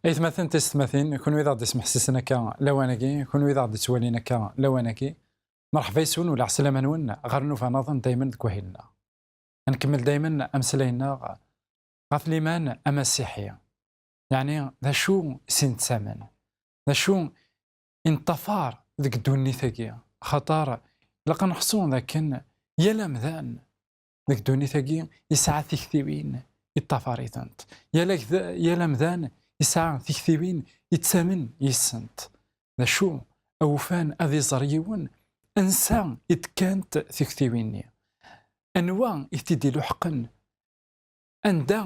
Aytmaten taysetmatin, kunwi d aɣ-d-ismeḥsisen akka lawan-agi, kunwi d aɣ-d-ittwalin akka lawan-agi, merḥba yes-wen u lɛeslama-nwen ɣer nnuba naḍen daymen deg wahil-nneɣ. Ad nkemmel daymen ameslay-nneɣ ɣef liman amasiḥi, yeɛni d acu i s-nettamen, d acu i neṭṭafar deg ddunit-agi, axaṭer ilaq ad neḥṣu d akken yal amdan deg ddunit-agi yesɛa tiktiwin yeṭṭafar-itent yal amdan yesɛa tiktiwin yettamen yis-sent d acu awufan ad iẓer yiwen ansa i d-kkant tiktiwin-nni anwa i t-id-iluḥqen anda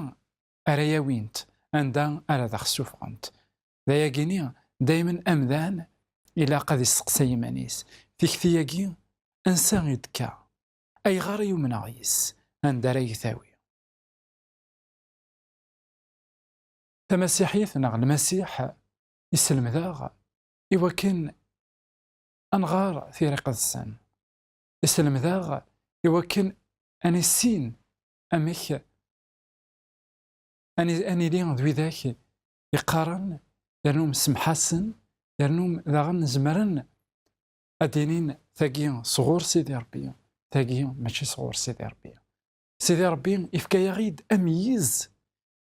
ara yawint anda ara d aɣ-ssufɣent d ayagi-ni daymen amdan ilaq ad isteqsay iman-is tikti-agi ansa i d-tekka Ayɣer i yumneɣ yes-s? Anda ara yi-tawi? Tamasiḥit neɣ Lmasiḥ isselmed-aɣ i wakken ad nɣer tira iqedsen. Isselmed-aɣ i wakken ad nissin amek ad nili d widak iqqaren yernu msemḥasen yernu daɣen zemren ad d-inin tagi sɣur Sidi Rebbi tagi mačči sɣur Sidi Rebbi Sidi Rebbi ifka-yaɣ-id amyiz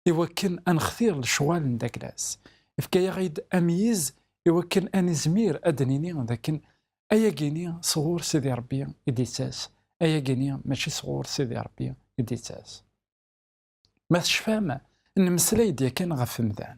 i wakken ad nextir lecɣal n Daglas ifka-yaɣ-id amyiz i wakken ad nizmir ad d-nini d akken ayagi-ni sɣur Sidi Rebbi i d-ittas ayagi-ni mačči sɣur Sidi Rebbi i d-ittas ma tecfam nemmeslay-d yakan ɣef umdan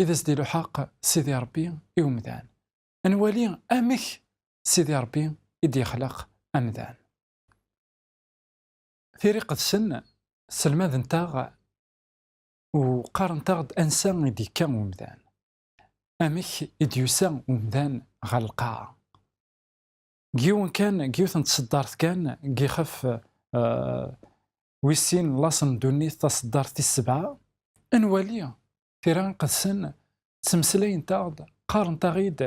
i d as-d-iluḥaq Sidi Ṛebbi i umdan. Ad nwali amek Sidi Ṛebbi i d-yexleq amdan. Tira Iqedsen sselmadent-aɣ u qqarent-aɣ-d ansa i d-yekka umdan, amek i d-yusa umdan ɣer lqaɛa. Deg yiwen kan, deg yiwet n tṣeddart kan, deg yixef wis sin n laṣel n ddunit, taṣeddart tis sebɛa, ad nwali tira iqedsen ttmeslayent-aɣ-d qqarent-aɣ-id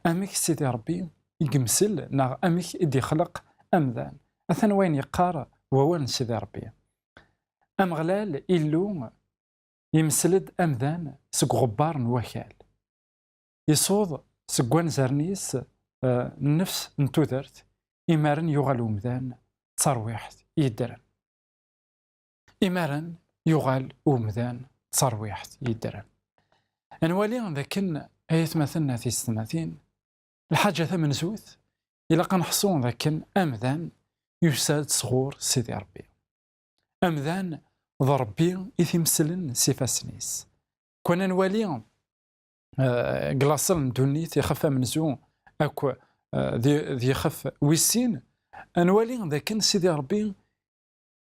amek Sidi Rebbi i yemsel neɣ amek i d-ixleq amdan atan wayen yeqqar wawal n Sidi Rebbi Ameɣlal Illu yemsel-d amdan seg uɣebbar n wakal isuḍ seg wanzaren-is eh, nnefs n tudert imaren yuɣal umdan d tarwiḥt yeddren Imaren yuɣal umdan d tarwiḥt yeddren. Anwali d akken ay atmaten a tisetmatin, lḥaǧa tamenzut, ilaq ad neḥṣu d akken amdan yusa-d sɣur Sidi Rebbi. Amdan d Rebbi i t-imeslen s ifassen-is. Kwan ad nwali deg eh, laṣel n ddunit ixef amenzu akk eh, d ixef wis sin, ad nwali d akken Sidi Rebbi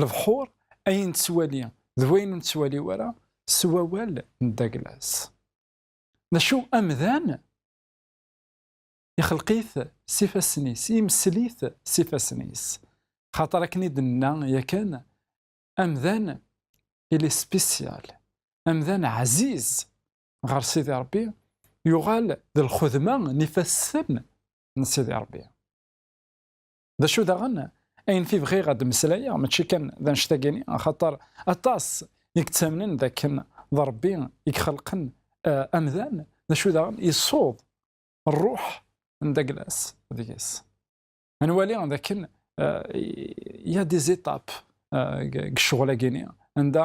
lebḥur ayen nettwali d wayen ur nettwali wara s wawal n Douglas. D acu amdan ixelq-it s ifassen-is, imessel-it s ifassen-is. Xaṭer akken i d-nenna yakan, amdan ili spécial, amdan ɛziz ɣer Sidi Rebbi, yuɣal d lxedma n ifassen n Sidi Rebbi. d acu daɣen ayen fi bɣiɣ ad d-meslayeɣ mačči kan d anect-agini axaṭer aṭas i yettamnen d akken d Rebbi i ixelqen eh, amdan d acu daɣen yessuḍ rruḥ n Daglas deg-s nwali d akken eh, ya des étapes eh, deg ccɣel-agini anda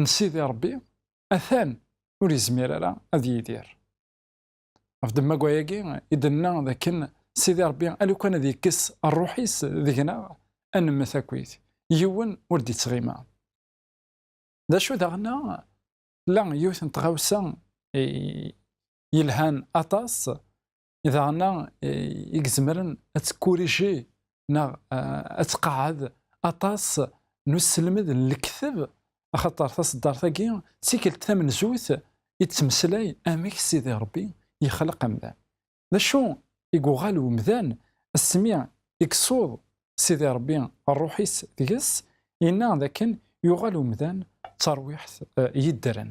n Sidi Ṛebbi atan ur yezmir ara ad yidir. Ɣef ddemma-agi i d-nna d akken Sidi Ṛebbi alukan ad yekkes ṛṛuḥ-is deg-neɣ ad nemmet akkit, yiwen ur d-ittɣima. D acu daɣen la yiwet n tɣawsa yelhan aṭas daɣen-a i izemren ad tekkuriji neɣ ad tqeɛɛed aṭas n uselmed n lekteb axaṭer taṣeddart-agi d tikelt tamenzut i d-temeslay amek Sidi Ṛebbi yexleq amdan. D acu i yuɣal umdan asmi i isuḍ Sidi Ṛebbi ṛṛuḥ-is deg-s, yenna dakken yuɣal umdan d tarwiḥt yeddren.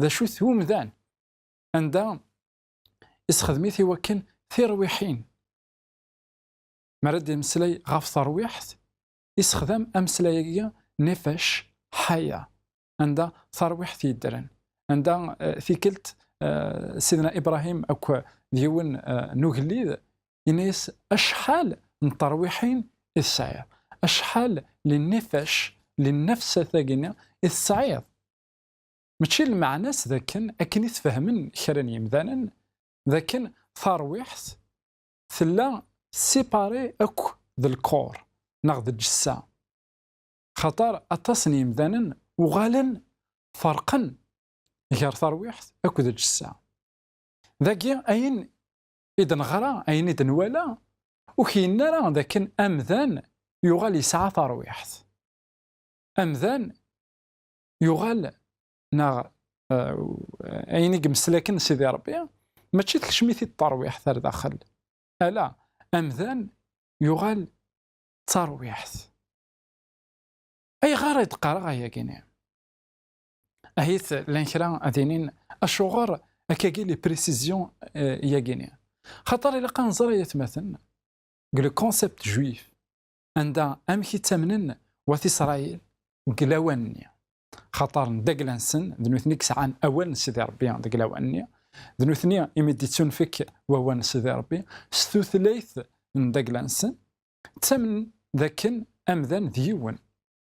d acu-t umdan anda isxedmit i wakken tirwiḥin mi ara d-yemmeslay ɣef terwiḥt isexdam ameslay-agi nefesh ḥaya anda terwiḥt yeddren anda eh, tikkelt eh, sidna Ibrahim akk d yiwen eh, n ugellid yenna-yas acḥal n terwiḥin i tesɛiḍ acḥal li nefesh li nefsat-agi i tesɛiḍ Mačči lmeɛna-s d akken, akken i t-fehmen kra n yimdanen, d akken tarwiḥt tella séparée akk d lkor neɣ d lǧessa. Xaṭer aṭas n yimdanen uɣalen ferqen gar tarwiḥt akk d lǧessa. Dagi ayen i d-neɣra, ayen i d-nwala, ur k-yenna ara d akken amdan yuɣal yesɛa tarwiḥt. Amdan yuɣal neɣ eh, ayen i yemslaken Sidi Rebbi mačči tekcem-it-id tarwiḥt ar daxel ala amdan yuɣal d tarwiḥt ayɣer i d-qqareɣ ayagi-nni ahit llan kra ad inin acuɣer akkagi li précision eh, yagi-nni xaṭer ilaq ad nẓer ay atmaten deg le concept juif anda amek i ttamnen wat Isṛayil deg lawan-nni. Xaṭer n dagla-nsen, d nutni i yesɛan awal n Sidi Ṛebbi deg lawan-nni, d nutni imi d-ittunfek wawal n Sidi Ṛebbi s tutlayt n dagla-nsen, ttamnen d akken amdan d yiwen.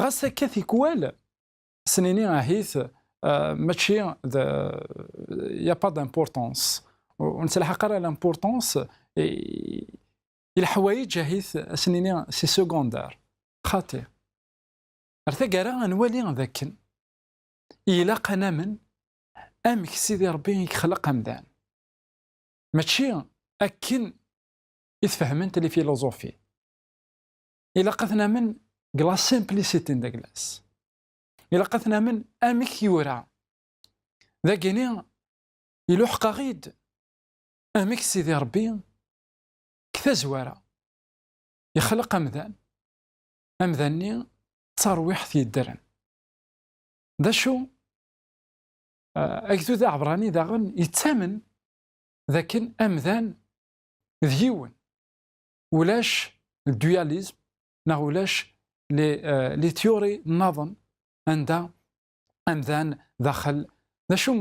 ɣas akka tikwal snini ahit mačči d ya pas d'importance ur nettelḥaq ara l'importance i leḥwayeǧ ahit snini si secondaire xaṭi ar taggara ad nwali d akken ilaq ad namen amek Sidi Ṛebbi i yexleq amdan mačči akken i tfehhment lifiluẓufi. ilaq ad namen deg la simplicité n Douglas ilaq ad namen amek yura dagini iluḥeq-aɣ-id amek Sidi Rebbi deg tazwara ixleq amdan amdan-nni d tarwiḥt yeddren d acu agdud aɛebrani daɣen yettamen dakken amdan d yiwen ulac dualisme neɣ ulac li tyuri nnaḍen anda amdan daxel d acu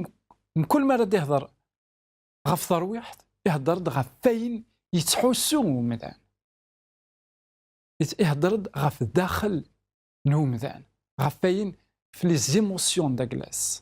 mkul mi ara d-ihder ɣef terwiḥt ihder-d ɣef wayen yettḥussu umdan ihder-d ɣef daxel n umdan ɣef wayen les émotions de la glace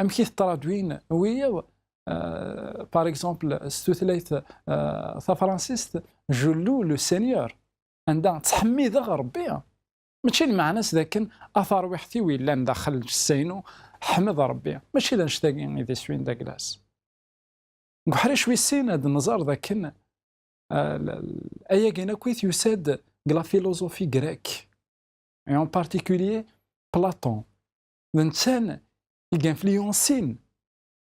amek i tettṛaǧwin wiyiḍ par exemple s tutlayt tafransist jullu le seigneur anda ttḥemmideɣ rebbi mačči lmeɛna-s d akken a tarwiḥt-iw yellan daxel lǧessa-inu ḥmed rebbi mačči d annect-agi i d iswi-n d aglas deg uḥric wis sin ad nẓer d akken ayagi akk i t-yusa-d deg la philosophie grecque et en particulier Platon d netta-n i influensin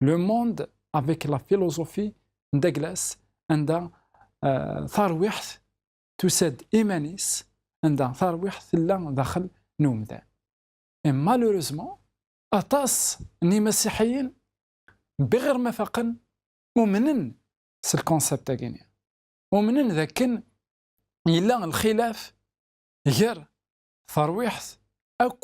le monde avec la philosophie n Douglas anda uh, tarwiḥt tusa-d iman-is anda tarwiḥt tella daxel n umdan et malheureusement aṭas n imasiḥiyen biɣir ma faqen umnen s lconcept agini umnen dakken yella lxilaf gar tarwiḥt akk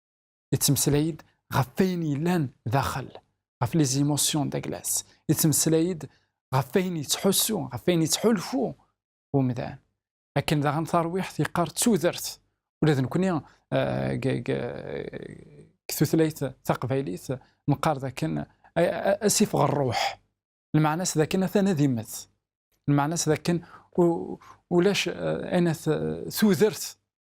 yettmeslay-d ɣef wayen yellan daxel ɣef les émotions d'Aglas yettmeslay-d ɣef wayen yettḥussu ɣef wayen yettḥulfu umdan akken daɣen tarwiḥt yeqqar d tudert ula d nekkni deg eh, tutlayt taqbaylit nqar d akken asif ɣer ṛṛuḥ lmeɛna-s d akken atan ad immet lmeɛna-s d akken ulac eh, anat eh, tudert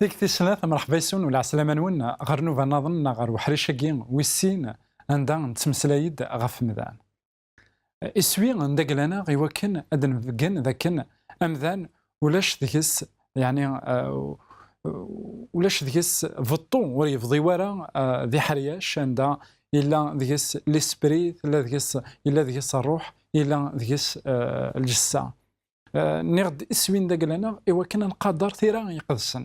Deg tis snat, mṛeḥba yes-wen u lɛeslama-nwen ɣer nuba naḍen neɣ ɣer weḥric-agi wis sin anda nettmeslay-d ɣef temda. Iswi n daglan-a i wakken ad d-nbeggen d akken amdan ulac deg-s yani ulac deg-s beṭṭu ur yebḍi wara d iḥeryac anda yella deg-s lispri tella deg-s yella deg-s ṛṛuḥ yella deg-s lǧessa. Nniɣ-d iswi n daglan-a i wakken ad nqader tira iqedsen.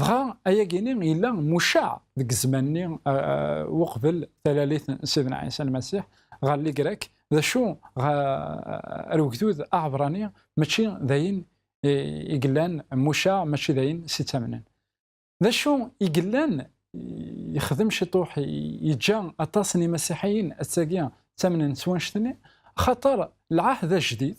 Dɣa ayagi-ni yella mucaɛ deg zzman-nni uqbel talalit n Sidna Ɛisa Lmasiḥ ɣer Ligrak, d acu ar ugdud aɛebrani mačči d ayen i yellan mucaɛ, mačči d ayen s ittamnen. D acu i yellan yexdem ciṭuḥ yeǧǧa aṭas n imasiḥiyen attagi ttamnen s wanect-nni, axaṭer lɛahd ajdid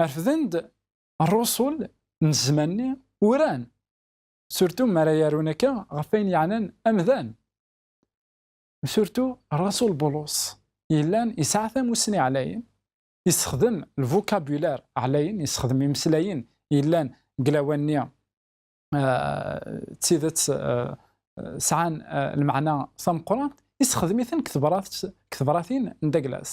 refden-d rrusul n zzman-nni uran surtu mi ara yarun akka ɣef ayen yeɛnan amdan surtu rrasul bulus yellan yesɛa tamussni ɛlayen yessexdem lvukabulaire ɛlayen yessexdem imeslayen yellan deg lawan-nni eh, d tidet eh, sɛan eh, lmeɛna tameqqrant yessexdem-iten deg tebratin n Douglas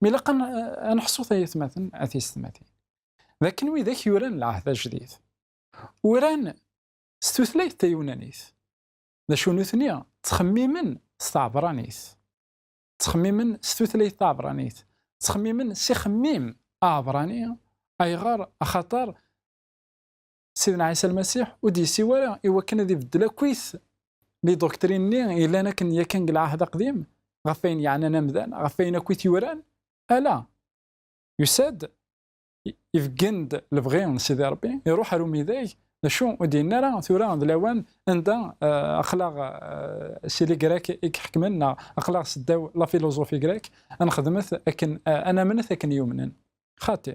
mi ilaq ad neḥṣu tayetmaten a tiysetmatin d akken widak yuran lɛahd ajdid uran s tutlayt taywunanit d acu nutni ttxemmimen s tɛebranit ttxemmimen s tutlayt taɛebranit ttxemmimen s ixemmim aɛebrani ayɣer axaṭer Sidna Ɛisa Lmasiḥ ur d-yessiw ara i wakken ad ibeddel akkit li doktrin-nni yellan akken yakan deg lɛahd aqdim ɣef wayen yeɛnan amdan, ɣef wayen akkit yuran, ala yusa-d ibeggen-d lebɣi n Sidi Rebbi, iruḥ ar umidag, d acu ur d-yenna ara tura d lawan anda eh, aqlaɣ eh, si li grek i iḥekmen neɣ aqlaɣ seddaw la filozofi grek, ad nexdmet akken, eh, ad namnet akken yumnen. Xati.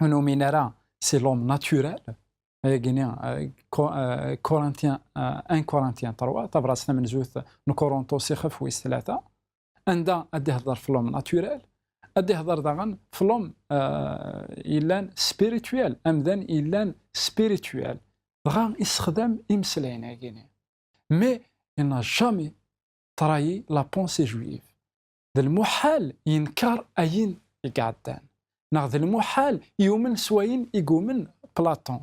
ur nomine ara si lom naturel, agini Korintyen, un Korintyen terwa, tabrat tamenzut n Korontos ixef wis tlata, anda ad d-ihder flom naturel, ad d-ihder daɣen flom yellan spirituel, amdan yellan spirituel, dɣa isexdam imeslayen agini. Mais il n'a jamais trahi la pensée juive. D lmuḥal yenker ayen i iɛeddan, neɣ d lmuḥal yumen s wayen i yumen Platon.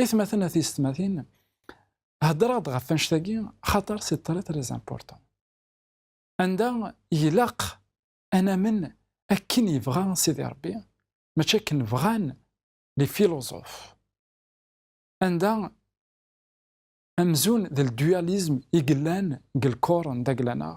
Itmaten a tiysetmatin, heddreɣ-d ɣef annect-agi xaṭer c'est très très important. Anda ilaq ad namen akken yebɣa Sidi Rebbi, mačči akken bɣan les philosophes. Anda amzun d le dualisme i yellan deg lkor n Daglaneɣ,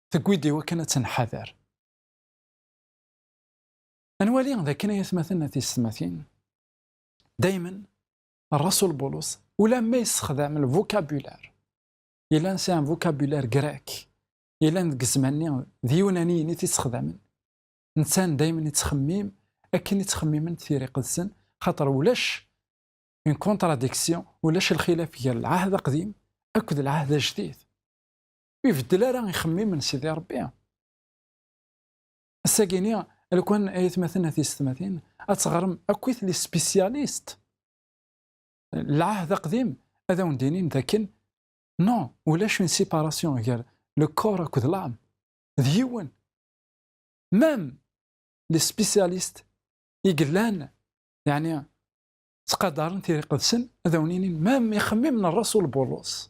tewwi-d i wakken ad tenḥader. Ad nwali d akken ay atmaten a tiysetmatin, daymen Rasul Bulus ulamma yessexdam lvukabular yellan sɛa vukabular grek yellan deg zzman-nni d yunaniyen i t-issexdamen, netta daymen ittxemmim akken i ttxemmimen tira iqedsen xaṭer ulac une contradiction, ulac lxilaf gar lɛahd aqdim akked lɛahd ajdid. Ur ibeddel ara ixemmimen Sidi Ṛebbi. Ass-agi-ni, lkwan ay atmaten at yessetmatin, ad teɣrem akkit li spécialiste. Lɛahd aqdim ad awen-d-inin dakken no, ulac une séparation gar le corps akked l'âme. D yiwen. Même li spécialiste i yellan, yeɛni ttqadaren tiriqedsen, ad awen-inin même ixemmimen n Rasul Bulus.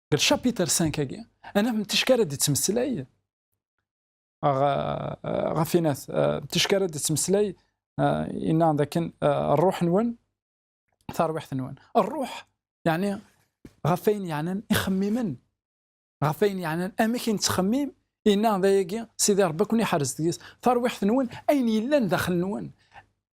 deg lchapitre 5 agi ana n ticki ara d-ittmeslay ɣef inat ticki ara d-ittmeslay inna dakken rruḥ-nwen tarwiḥt-nwen rruḥ يعني ɣef ayen yeɛnan ixemmimen ɣef ayen yeɛnan amek i nettxemmim inna dayagi sidi rebbi akun iḥerz deg-s tarwiḥt-nwen ayen yellan daxel-nwen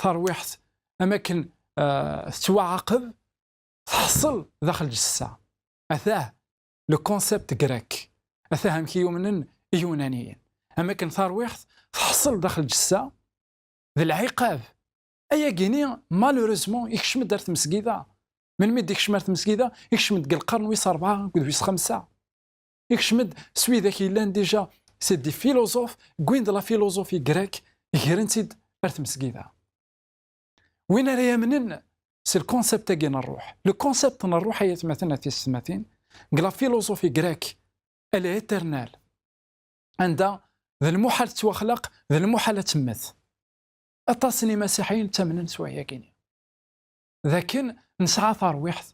tarwiḥt am akken euh, tettwaɛaqeb tḥeṣṣel daxel ǧessa atah le concept grec atah amek i yumnen iyunaniyen am akken tarwiḥt tḥeṣṣel daxel ǧessa d lɛiqab ayagini malheureusement ikcem-d ar tmesgida melmi d ikcem ar tmesgida ikcem-d deg lqern wis rebɛa akked wis xemsa ikcem-d s widak yellan dija si di filozof gwin de la filozofi grek gren-tt-id ar tmesgida win ara yamnen si lkonsept-agi n rruḥ lkonsept n rruḥ ay atmaten at yessetmatin g la filozofi grek elle est éternelle anda d lmuḥal tettwaxlaq d lmuḥal ad temmet aṭas n imasiḥiyen ttamnen s wahyagini dakken nesɛa tarwiḥt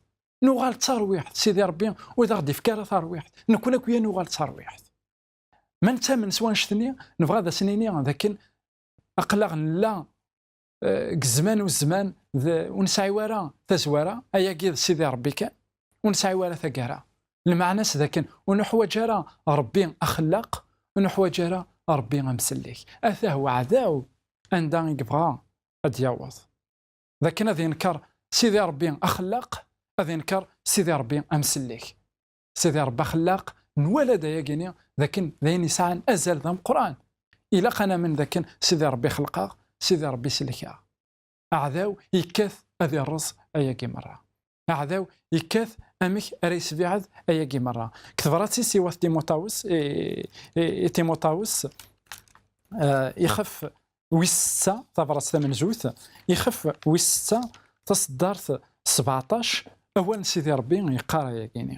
nuɣal d tarwiḥt sidi rebbi ur d aɣ-d-ifka ara tarwiḥt nekkun akk yan uɣal d tarwiḥt ma nettamen s wanect-nni nebɣa ad as-nini dakken aqlaɣ nella eh, deg zzman u zzman ur nesɛi ara tazwara ayagi d sidi rebbi kan ur nesɛi ara tagara lmeɛna-s dakken ur nuḥwaǧ ara rebbi axellaq ur nuḥwaǧ ara rebbi amsellek atah weɛdaw anda i yebɣa ad d-yaweḍ d akken ad yenker Sidi Ṛebbi axellaq, ad yenker Sidi Ṛebbi amsellek. Sidi Ṛebbi axellaq, nwala-d ayagi-ni d akken d ayen yesɛan azal d ameqqran. Ilaq ad namen d akken Sidi Ṛebbi xelqeɣ, Sidi Ṛebbi sellkeɣ. Aɛdaw yekkat ad iṛṛeẓ ayagi meṛṛa. aɛdaw yekkat amek ara yesbiɛed ayagi merra deg tebrat-is i wat timutawes i timutawes eh, ixef wis setta tabrat tamenzut ixef wis setta taseddart 17 awal n sidi rebbi yeqqar ayagini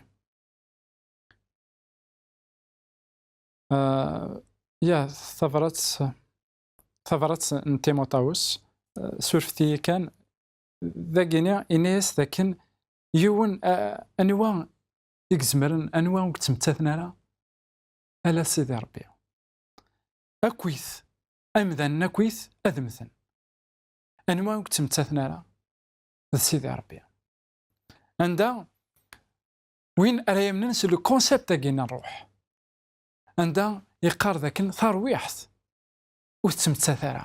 eh, ya tabrat tabrat n timutawes eh, surfet-iyi kan dagini ini-as dakken yiwen anwa i izemren anwa ur yettmettaten ara ala sidi rebbi akkit amdanen akkit ad mmten anwa ur yettmettaten ara d sidi rebbi anda win ara yamnen s le concept agi n ṛṛuḥ anda yeqqar dakken tarwiḥt ur tettmettat ara